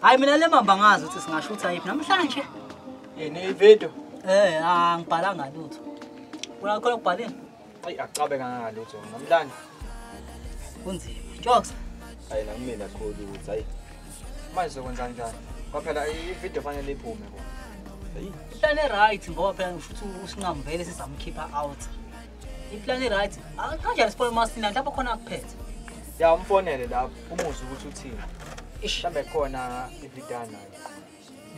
Hayi mina le mamba ngazi ukuthi singashutha yiphi namhlanje. Yini ivideo? Eh, angibhalanga ah, lutho. Kuna khona kubhaleni? Ayi acabe kangaka lutho namhlanje. Kunzima. Jokes. Hayi la mina khulu ukuthi hayi. Manje sokwenza njani? Kwaphela ivideo fanele iphume kodwa. Hayi. Hlale right ngoba phela ushuthi usinqamvele sizamkhipha out. iplan i-right ah, kanjani sibone umasina lapho khona akuphethe ya umfonele lapho umuzwe ukuthi uthini mhlawumbe khona ividana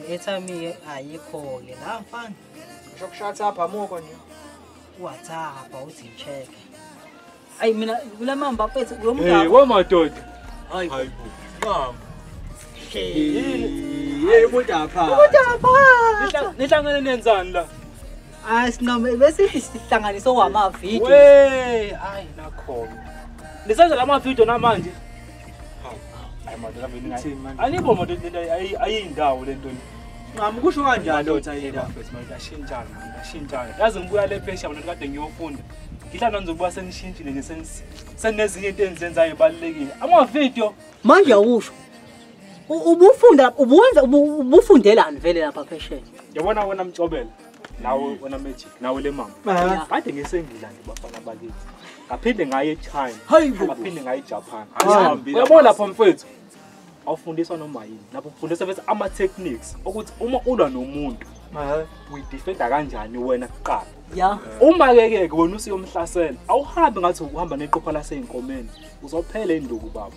i-airtime-ke ayikho-ke la mfana usho kushathapha amuko nje uwathapha uthi check ayi mina kula mamba phethe kulo mngabo wamadoda hayi hayi mama Hey, umuntu apha. Umuntu apha. Nihlangene nenzani la? Hayi sinqome bese sihlanganisa owama video. Wey, hayi nakhona. Nisenza lama video namanje. Hayi madoda vini ngathi. Alibo madoda ayindawo lento. Ngam kusho kanjani lo Tayela? Ngashintshana, ngashintshana. Yazi ngibuya le phesha mina kade ngiyofunda. Ngihlala nje ukuba sengishintshile nje senezinye into enzenzayo ebalekile. Ama video. Manje awusho. Ubufunda ubuwenza ubufundelani vele lapha phesheya? Yabona wena mcobela. nawe wena magic nawe le mama ah. kade ngisengila nje bafana bakithi ngaphinde ngaye echina ngaphinde ngaye ejapan ah. uyabona lapho mfethu awufundiswa noma yini lapho ufundiswa bese ama-techniques ukuthi uma ulwa nomuntu ah. uyidifenda kanjani wena kuqala ya uma kekeke wena usiyomhlasela awuhambi ngathi ukuhamba neqopha laseyinkomeni uzophela induku baba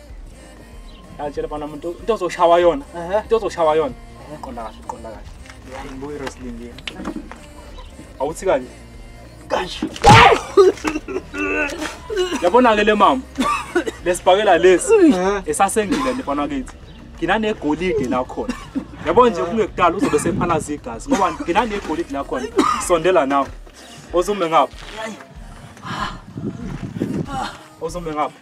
Ngitshela bana umuntu into ozoshawa yona. Into ozoshawa yona. Qonda kahle, qonda kahle. Ngibuye wrestling yini? Awuthi kanje. Kanje. Yabona ke le mama. Lesibhakela lesi esasengile nje bana kithi. Nginanegolide la khona. Yabona nje kungekudala uzobe sephalaza igazi ngoba nginanegolide la khona. Sondela nawe. Ozume ngapha. Ozume ngapha.